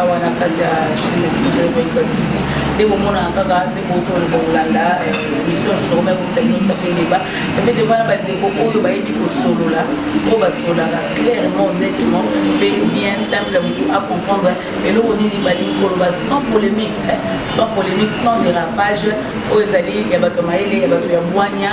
awa na kati ya chine ekolekatisi nde bomonaka kaka nde botolo bokolanda émission eh, sokoma ekobisa bino safe deba safe deba na bandeko oyo bayebi kosolola oyo basololaka clairement nettement mpe bien simple motu acomprendre eloko nini balingi koloba sans polémique eh, sans polémique sans dérapage oyo ezali ya bato ya mayele ya bato ya bwania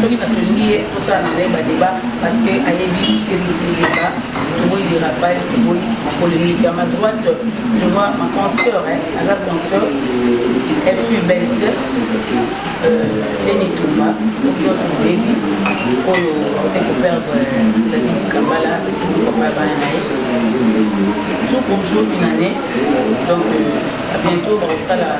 soki na tolingi ye tosala na ye badeba parce que ayebi kesi eleka toboyi de rabal toboyi polémique ya ma droite je vois ma consœur aza consœur elle fut belle sœur leni euh, tumba nyonso oyebi oyo ote koperdre dadidi kambala papa bana na ye jour pour jour une année donc euh, bientôt bakosala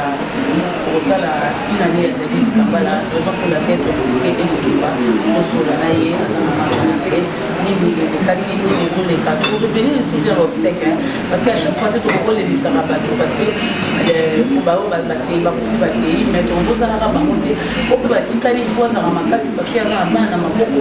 Une année ya David Kambala, raison pour laquelle tokoki elukiba kosola na ye aza na mama na ye nini elekaki nini ezoleka torevenir lisusu ya baobsèque parce que à chaque fois te tokokolelisaka bato parce que baoyo bakei bakufi bakei mais tokobozanaka bango te oyo batikali ifo azala makasi parce que aza na bana na maboko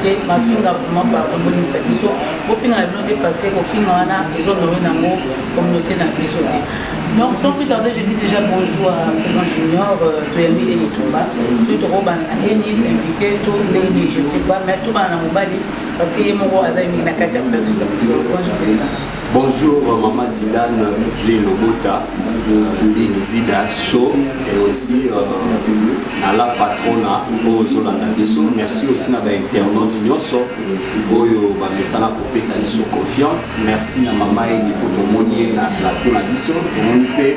te mafinga vraiment pardon bolimisa biso bofinga na bino te parce que kofinga wana ezonome nango communauté na biso te donc sans plus tarder je dis déjà bonjour à président junior euh, toyambi ye litumba soki tokobana na eni invité to ndeni je sais pas mais tobana na mobali parce que ye moko aza mingi na kati ya plateau na biso bonjour Bonjour maman Zidane Evelyne Lobota Big Zida Show et aussi euh, à la patrona oyo ozolanda biso merci aussi na bainternaute nyonso oyo bamesana kopesa biso confiance merci na mama eni mpo tomoni ye na plateau na biso tomoni mpe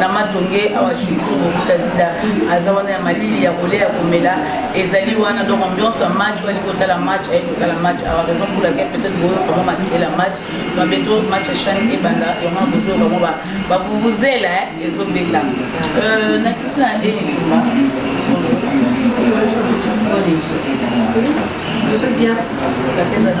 na matonge awa chez biso kokuta zida aza wana ya malili ya kolia ya komela ezali wana donc ambiance ya match wali kotala match aye kotala match awa raison pour laquelle peut-être boyoka mwa makela match donc beto match ya chane ebanda yango na bozoyoka mwa bavuvuzela ezobeta euh, nakiti na elikuma Très bien. Ça t'aide à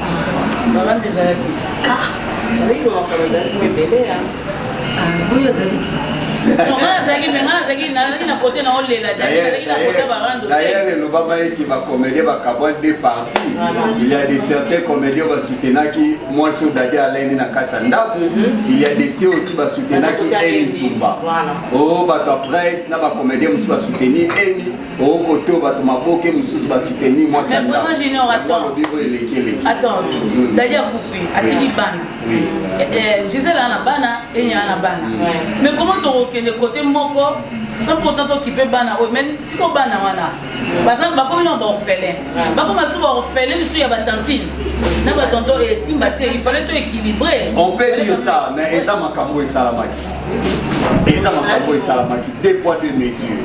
Makambo ezalaki ah, ndenge makambo ezalaki mo ebele ya ah, oyo azali te D'ailleurs, le Lobama est qui va comédien va cabaret des parties. Il y a des certains comédiens va soutenir qui moi sur Dadi Alain na Katsanda. Mhm. Il y a des ceux aussi va soutenir qui est Tumba. Oh, bah ta presse, na va comédien aussi va soutenir Eni. okote oyo bato maboke mosusu basuteni mwasi alobi oyo eleki eleki mm. dadi akufi atiki mm. bana eh, eh, gisele ana bana enya ana bana mm. mais koma tokokende kote moko sans pourtant tokipe bana oyo mais siko bana wana baza bakomi na baorphelin bakoma suka orphelin lisusu ya batantine na batonto esimba te il fallait to équilibré on peut dire ça mais eza makambo esalamaki eza makambo esalamaki deux poids deux mesure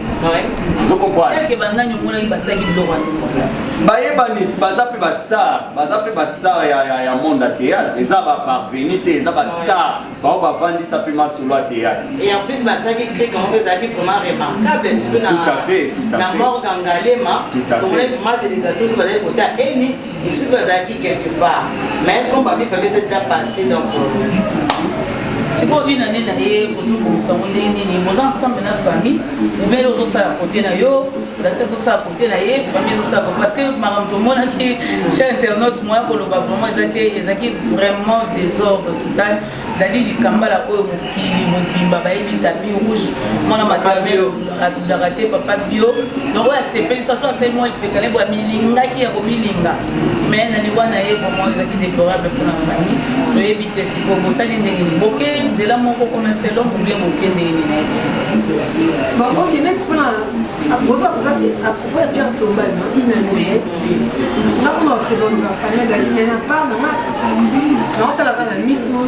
bayebani baza mpe bastar baza mpe bastar ya monde ya théâtre eza baparveni te eza bastar bango bavandisa mpe masolo ya théâtre tout à fait tout à fait Ici bazalaki quelque part mais comme babi fallait que ça passe donc sikoyo une année na ye ozobongisa ngo ndenge nini boza ensemble na famille obele ozosala kote na yo dati azosala kote na ye famille ezosala parce que makambo tomonaki chez internaute moya koloba vraiment eza te ezalaki vraiment désordre total Dady Dikambala oyo mokili mobimba bayebi tapi rouge mwana matambio alulaka te papa bio donc oyo asepelisa so asali mwa lipeka lebo amilingaki ya komilinga mais na liwa na ye vraiment ezalaki déplorable mpona famille toyebi te siko bosali ndenge nini boke nzela moko koma selon bobie boke ndenge nini nayebi bakoki neti mpona akoza apropos ya pierre tombana inanee ntango na oseloni na famille ezali me na part na nga naotalaka na miso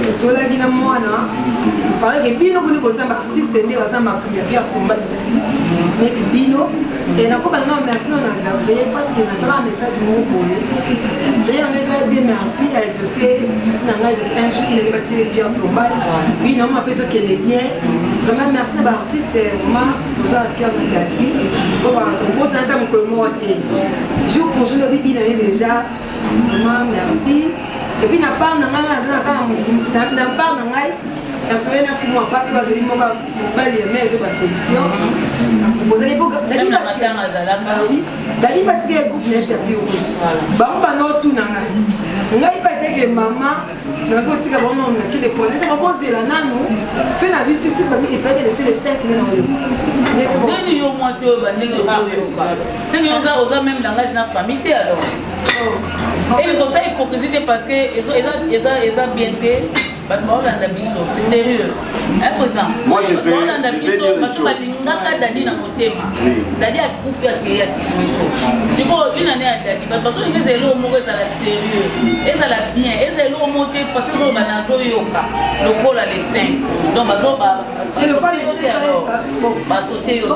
osolaki na mwana pareke bino boni boza ba artiste nde baza makambo ya pierre combat libandi neti bino e nakobana na merci na gabriel parce que nasalaka message moko boye gabriel anga eza die merci ya exauce susi na ngai ezali un jour inenge batie pierre tombai bino yango mapesa kende bien vraiment merci na ba artiste vraiment oza na cœur na gati po bato obosana ata mokolo moko te jour prochain obi ina ye déjà vraiment merci epuis na part na ngai aza na kaka na part na ngai nasoleli na kumwa papi bazali moko mobali ya mare basolution bozali dali batika ya groupe neige ya plus rouge bango banotuna ngai ngai pateke mama nakoki kotika bango na mokili epona eza bakozela nanu soki nazwi suki bami epaki na sile 5 na oyo nini yo mwasi oyo bandenge ozoyoka senge oza oza meme langage na famille te alors oh. eye kosala hypocrisie te parce que eza bien te bato baolanda biso c'est sérieux Moi, je vais, je vais dire une chose. balingaka dadi na motema dadi akufi akei atiki biso sikoyo une année ya dadi bato bazolinga ezala eloko moko ezala sérieux ezala bien ezala eloko moko te parce que ozoloba nazoyoka lokola le 5 donc bazoba basosie yo te alors basosie yo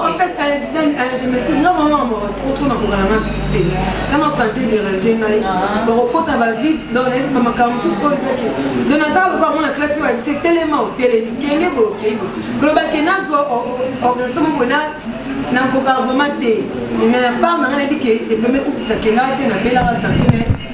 te kotuna kongana na susu te tana sante derange ngai bakokota bavide don nayebi bamakambo mosusu oyo ezaki don nazala lokola mwana klasi oyo abise telema otelemi kende boye okei boye koloba ke nazwa organisation moko na nakoka vraiment te mais na part na ngai nayebi ke epeme nakendaka te nabelaka tension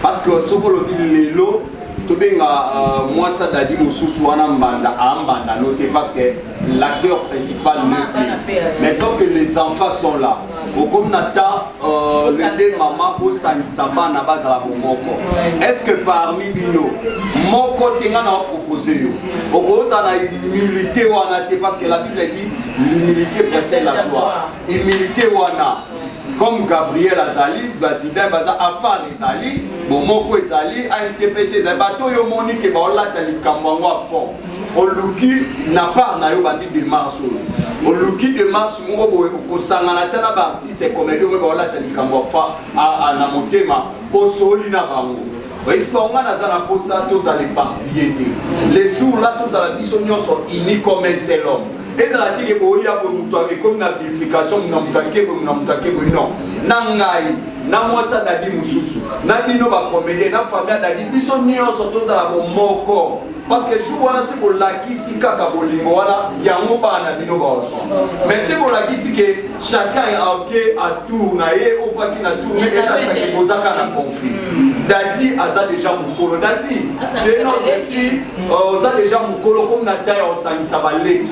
Parce que soki olobi lelo tobenga euh, mwasa dadi mosusu wana mbanda ambanda no te parce que l'acteur principal mais sauf que les enfants sont là okomi na ta euh, le de mama osangisa bana bazala bomoko est ce que parmi bino moko te ngai na opropose yo okozala na humilité wana te parce que la bible dit l'humilité précède la gloire humilité wana comme gabriel azali bazidai baza afar ezali bomoko ezali antpc ezali bato oyo omoni ke baolata likambo yango a fond oluki na part na yo bandi demarche oyo oluki demarche moko boye kosangana ata na baartiste comedi oyo baolata likambo na motema osoli na bango oyebisi bango ngai naza na mposa tozala eparpille te le jour la tozala biso nyonso uni comme un seul homme ezala te ke boya boye moto ekomi na bifrication mona moto ake boye mona moto ake boye non na ngai na mwasi adadi mosusu na bino bakomedie na famille adadi biso nyonso tozala bomoko Parce que jour wana se bolakisi kaka bolingo wana yango bana bino baozwa mais se bolakisi ke chacun ake a tour na ye opaki na tour mais elakisaki bozaka na conflit dati aza déjà mokolo dati c'est notre fille euh, oza déjà mokolo comme na temps ya kosangisa baleki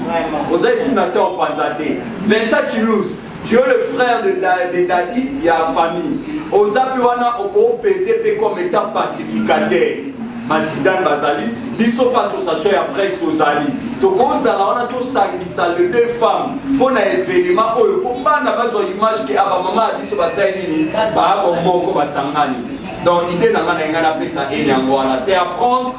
oza esu na temps opanza te vincent chilus Tu es le frère de, da, de Dadi ya famille. Oza pe wana oko pese pe comme étant pacificateur. Masidane bazali, biso pa association ya presse tozali. Tokozala wana tosangisa le deux femmes mpo na événement oyo mpo bana bazwa image ke aba ah, mama ya biso basali nini baabo moko basangani. Donc idée na ngai na ngai napesa ene yango wana c'est apprendre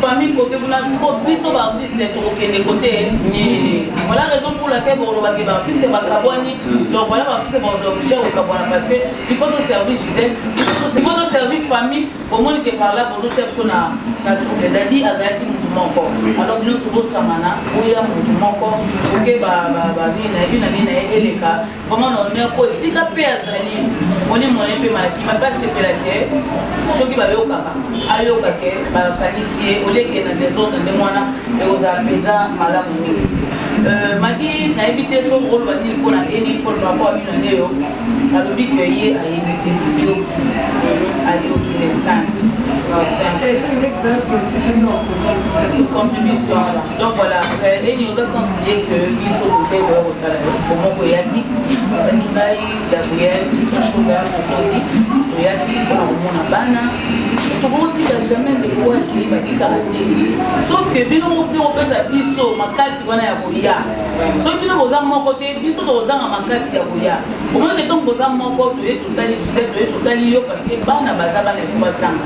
famille kote kuna siko biso baartiste tokokende kote nini voilà raison pour laquelle bokolobaki baartiste bakabwani donc voilà baartiste baoza oblige kokabwana parce que il faut toservir gisele il faut toservir famille bomoni ke par là bozotia biso na trouble dadi azalaki motu moko alors bino sobosamana boya motu moko oke babini na ye bina nini na ye eleka vraiment na honneur mpo esika mpe azali moni mona mpe malaki mabe asepela ke soki bayokaka ayoka ke bakanisi ye oleke na desordre ndenge wana ekozala mpenza malamu mingi te euh, maki nayebi te so okoloba nini mpo na eni mpo na rapport abino neyo alobi ke ye ayebi te ayoki ayoki le 5 le 5 comme ce soir là donc voilà euh, eni oza sans oublier que biso bote boya kotala yo bomoko eyaki ozali ngai gabriel ashuga ozodi toyaki mpona komona bana tokotika jamais ndeko akei batikaka te sauf que bino nde kopesa biso makasi wana ya koya soki bino boza moko te biso tokozanga makasi ya koya omonike ntongo boza moko toye totali joseph toye totali yo parce que bana baza bana efo batanga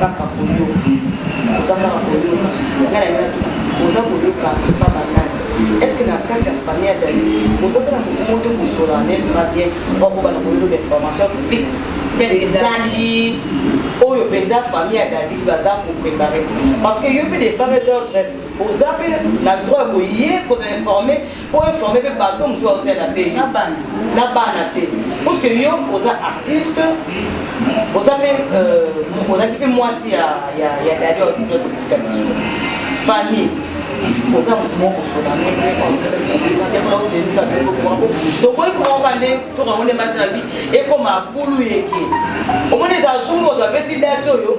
kaka koyoka oza kaka koyoka nga na ngai oza koyoka epa banani estce na kati ya famille ya dadi ozotala moto moto kosola nef na bien bakobana koyelo bainformation fixe ezali oyo mpenza famille ya dadi baza koprepare parce que yo mpe depart et d'autre oza mpe na droit ya koye kozala informe po informe mpe bato mosusu baotala mpe na bana na bana mpe puisque yo oza artiste oza mpe euh, ozalaki mpe mwasi ya dadi oza kotika biso famille oza moto moko kosola tokoki kokoka nde tokango nde mbasi na bi ekoma bulu yeke omoni eza jour oto apesi dati oyo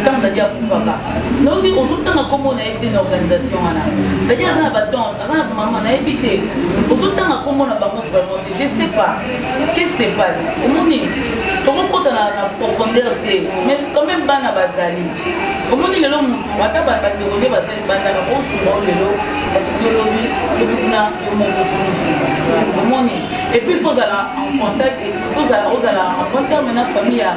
ntango dadi akufaka noki ozotanga nkombo na ye te na organisation wana dadi aza na batante aza na mama nayebi te ozotanga nkombo na bango vraiment te je sais pas qu'est-ce se passe omoni tokokota na profondeur te mais quand même bana bazali omoni lelo motu ata bandeko nde bazali bandaka osunga o lelo basuki olobi lobi kuna yo moko ofumisunga omoni et puis faut ozala en contact ozala ozala en bon terme na famille ya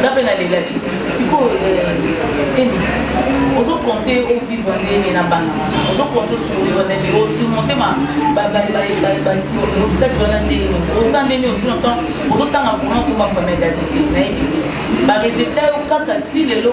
nga mpe nalelaki sikoyo eh, emi ozokonte ovivre ndenge na bana wana ozokonte osuvivre ndenge osurmonte baobstacle wana ndenge oza ndenge osi na temps ozotanga vraiment koma famille date te nayebi te baresultat yo kaka ti lelo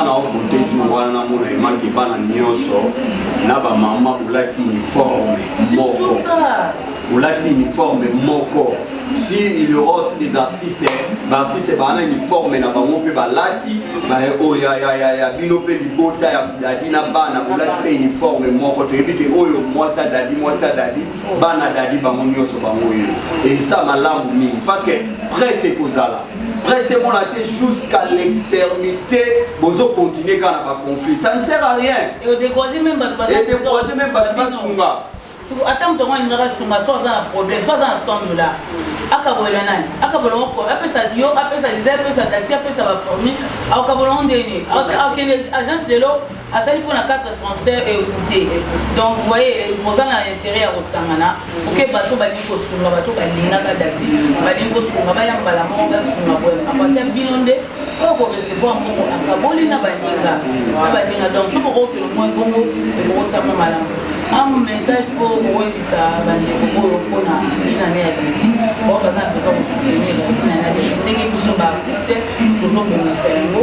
ana okonte jour wana namona emanke bana nyonso na bamama bolati uniforme moko bolati uniforme moko si il y aura aussi des artistes baartiste baa na uniforme na bango mpe balati baye oyo oh, ya bino mpe libota ya dadi na bana kolati mpe uniforme moko toyebi te oyo mwasi ya dadi mwasi ya dadi bana dadi bango nyonso bango oyo esa malamu mingi parce que presse ekozala presse emona te jusqu'à l'éternité bozo continuer kaka na baconflit ça ne sert à rien edécourage même bato basunga ata moto yango alingaka sunga so aza na problème so aza na 100 dollar akabolela nani akabola ngo apesa yo apesa jide apesa dati apesa baformi akabola ngo ndeni akende agence lelo asali mpo na 4 transfert ecoute donc voye boza na intérêt ya kosangana oke bato balingi kosunga bato balingaka dati balingi kosunga baya mbala moko basunga boye akwasya bino nde oyo korecevoir mbongo akaboli na baninga na baninga donc soki okokelo mwa mbongo ekokosama malamu am message mpo koyebisa bandeko oyo mpona inane ya dati bao baza na besoin kosutenir inane ya dati ndenge biso baartiste tozobongisa yango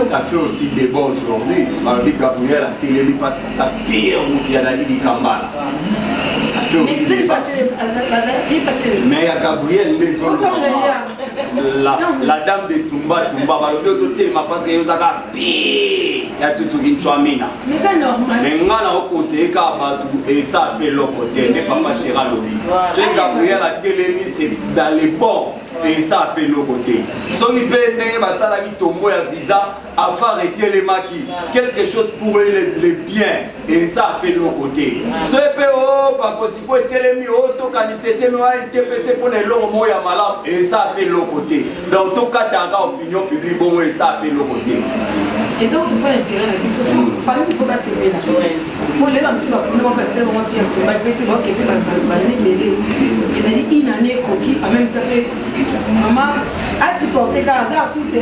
Ça fait aussi des bonnes journées. Mardi Gabriel a télélé parce que ça pire ou qui a la dit Kambala. Ça fait aussi des Mais à Gabriel, les autres. La, la dame de Tumba Tumba, bah, le deux autres, parce que vous avez pire. ya tutuki ntwamina me nga na okoseyeka bato esa mpe eloko te nde papa shera lobi soki gabriel atelemi se dans le bon eza mpe eloko te soki mpe ndenge basalaki tombo ya visa afar etelemaki quelque chose pour eux le bien eza mpe eloko te soki mpe o oh, bakosi mpo etelemi o oh, tokanisa etemi wa ntpc mpo na eloko moko ya malamu eza mpe eloko te donc tokataka opinion publique bongo eza mpe eloko te eza okopa interet na biso fami ifo basepela Bon, les gens qui sont venus, on va passer, on va pire, on va péter, on va képer, on va aller mêler. Et on a dit, une année, coquille, en même temps, maman, a supporté car ça artiste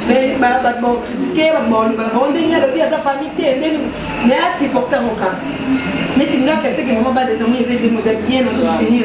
mais ba ba bon critiquer ba bon ba bon ndenge lobi sa famille te ndenge mais a supporter mon cas neti ngaka te que maman ba de nommer les aides bien on se soutenir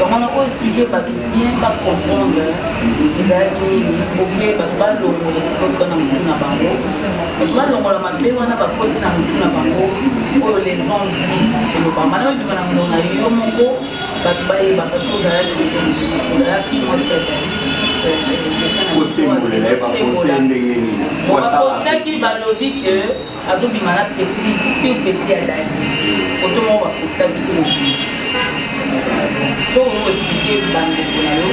donc wana oexplike bato bien bacomprendre ezalaki nini oke bato balongola ekipoti wana motu na bango bato balongola mabe wana bakoti na motu na bango oyo les ont dit elobama na obima na mono na yo moko bato bayeba parce que ozalaki ozalaki mwasi osembolela ye bakose ndenge nini bakosaki balobi ke azo bima na petit pure petit ya dadi photo moko ba posta ki ko so ko expliquer bande ko na yo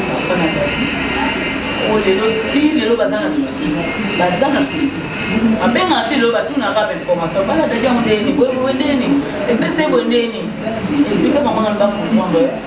ba fana dadi o lelo ti lelo baza na souci baza na souci abengaka ti lelo batunaka ba information bana dadi yango ndeni boye boye ndeni esese boye ndeni explique bango na ba comprendre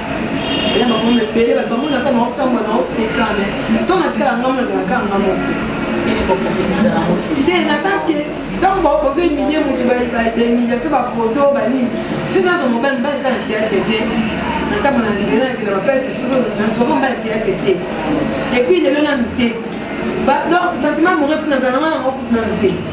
ela makambo ebele bato bamona kaka na otambwa na oseka me ntango natikala ngambo nazala kaka ngambo te na sens ke ntango baokoki emilie motu bemiliation bafoto banini si nazo mobali mbali kaka na teatre te natambo na nzela nakenda bapese mosusu mbali teatre te epuis lelo nanu te donc sentiment amoureux nazala ngai yango kutu nanu te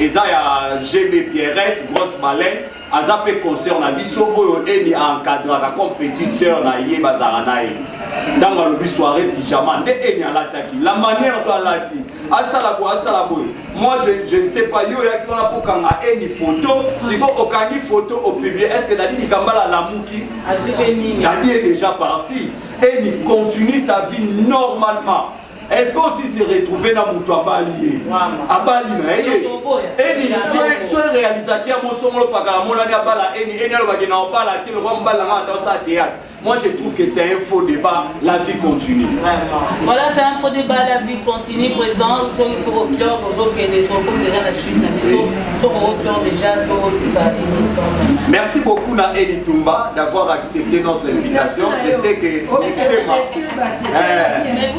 eza ya gb pierrette grosse baleine aza mpe concert na biso oyo emi encadraka comme petite sœur na ye bazalaka na ye ntango alobi soirée pyjama nde emi alataki la manière to alati asala boye asala boye moi je, je ne sais pas yo oyaki wana kokanga emi photo siko okangi photo opiblie est ce que dadi likambala alamuki dadi est déjà parti emi continue sa vie normalement elle peut aussi se retrouver na moto abali ye abali na ye eni soki réalisateur mosongolo pakala monani abala eni eni alobaki na obala te lokwa mobali nanga ata osala théâtre Moi, je trouve que c'est un faux débat. La vie continue. Vraiment. Voilà, c'est un faux débat. La vie continue. Présent, sur le cours au cœur, aux autres, qui est comme déjà la chute, la maison, sur au cœur déjà, toi aussi, ça Merci beaucoup, Naël Tumba, d'avoir accepté notre invitation. Je sais que.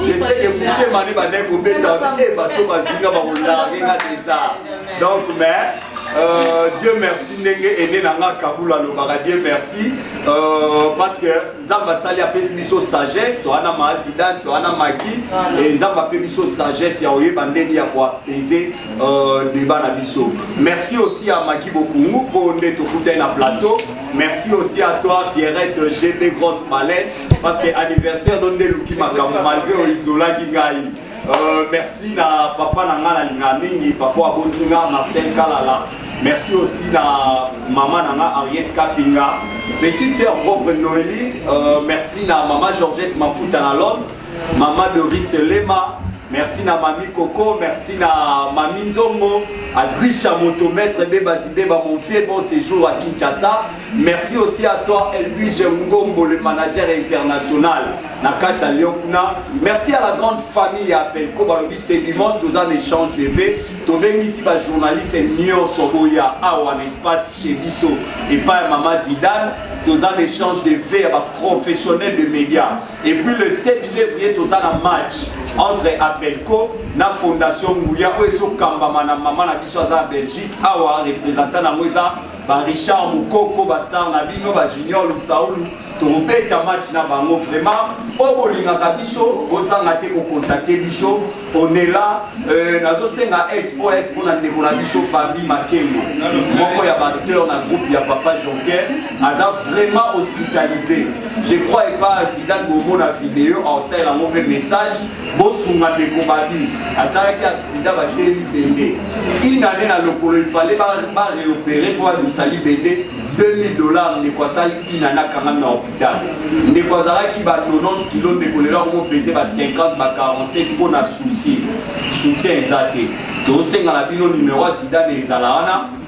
je sais que motema ne bandai kobeta e bato bazinga bakolage nga deza donc mais Euh, dieu merci ndenge ene na nga kabula alobaka dieu merci euh, parce que nzambe asali apesi biso sagesse toana maasida toana maki e nzambe ape biso sagesse ya koyeba ndenge ya koapese euh, deba na biso merci aussi ya maki bokungu mpo nde tokutani na plateau merci aussi à toi pierrette gb grosse balene parce que anniversaire no nde eluki makambo malgré oisolaki ngai euh, merci na papa na ngai nalinga mingi papa abotisi nga marcel kalala merci aussi na mama na nga henriette kapinga petite sœur propre noeli euh, merci na mama georgette mafuta na londre mama doris lema merci na mami koko merci na mami nzongo adrisha motomètre bebazibeba mon vieux bon séjour à kinshasa Merci aussi à toi Elvige Ngombo le manager international na kati ya Lyon kuna. Merci à la grande famille ya Pelko balobi c'est dimanche toza na échange de vie tobengisi ba journaliste nyonso boya awa na espace chez biso epai ya mama Zidane toza na échange de vie ya ba professionnels de médias et puis le 7 février toza na match entre Apelco na fondation Nguya oyo ezokambama na mama na biso aza na Belgique awa représentant na yango eza ba Richard Mukoko ba star na bino ba Junior Lusaulu tokobeta match na bango vraiment oyo bolingaka biso bozanga te kokontakte biso onela euh, nazosenga sos mpo na ndeko na biso babi makengo moko ya baacteur na groupe ya papa jonker aza vraiment hospitalisé je crois epa zidane bomona video aosalela yango mpe message bosunga ndeko babi asalaki aksida batie libende inane na lokolo ifale bareopere mpo abimisa libende 2000 dollars ndeko asali inane akangami na hopital ndeko azalaki ba 90 kilo ndeko lelo akomopese ba 50 ba 45 mpo na souci soutien eza te tosenga na bino numero ya sida na ezala wana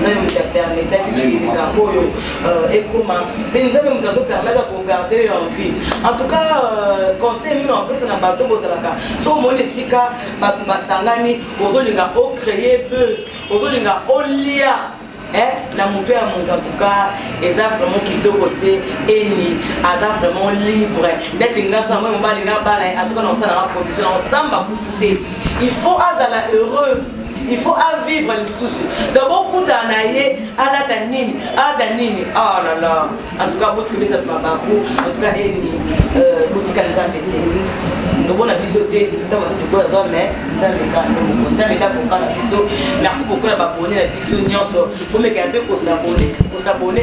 nzambe moto apermetaki likambo oyo euh, ekoma mpe nzambe moto azopermettre kogarde yo en vie en tout cas euh, conseil mino apesa na bato bozalaka so omoni esika bato basangani ozolinga ocreye buzz ozolinga olia eh, na moto ya moto antuka eza vraiment kitoko te eni aza vraiment libre neti nga so yango mobali nga bala antuka na kosala nga production na kosamba kutu te il faut azala heureuse il faut a vivre lisusu donc bokutana na ye alata nini alata nini oh là là en tout cas botikeli ezatu mabaku en tout cas eni eh, euh, botikali nzambe te tobona biso te ntango azo tokola zwa mai nzambe kaka nzambe nde avoka na biso merci beaucoup na babone na biso nyonso bomekela mpe kosabone kosabone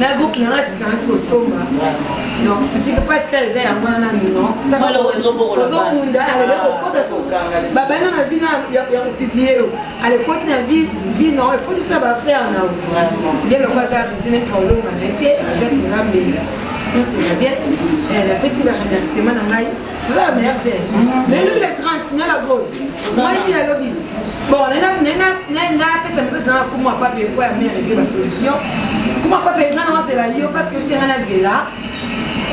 na groupe na ngai sika nati kosomba donc susika mpasi kaka eza yango wana mino ozobunda alobe kokota babanda na vi ya kopiblie yo alekoti na vi no ekotisa baaffaire na ye loko aza risine kaolonga na ye te avec nzambe nyonso eza bien napesi baremerciement na ngai toza na meilleur verre mais lobi le 30 na la grosse mwasi ya lobi bon nga apesa message na kuma pape ekwa ya mère eke basolution kuma pape nga na wazela yo parce que bisenga na zela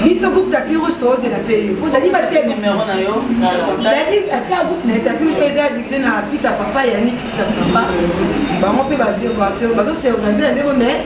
biso groupe tapi rouge tozela te yo po dadi bati dadi atika groupe na tapi rouge eza dirige na fils ya papa yanik fils ya papa bango mpe bazosorganize na ndeko mais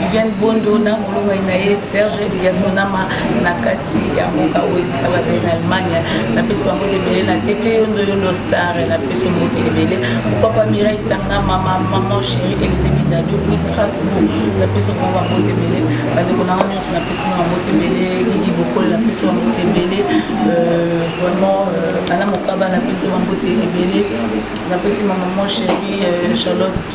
Viviane Bondo na molongani na ye Serge Yasonama na kati ya mboka oyo esika bazali na Allemagne napesi bango ebele na tete yondo yondo star napesi mbote ebele mopapa Mirai Tanga mama maman chérie Elisabeth Dado puis Strasbourg napesi bango bambote ebele bandeko na nga nyonso napesi bango bambote ebele Gigi Bokolo napesi bambote ebele euh, vraiment euh, Ana Mokaba napesi bambote ebele napesi ma maman chérie euh, Charlotte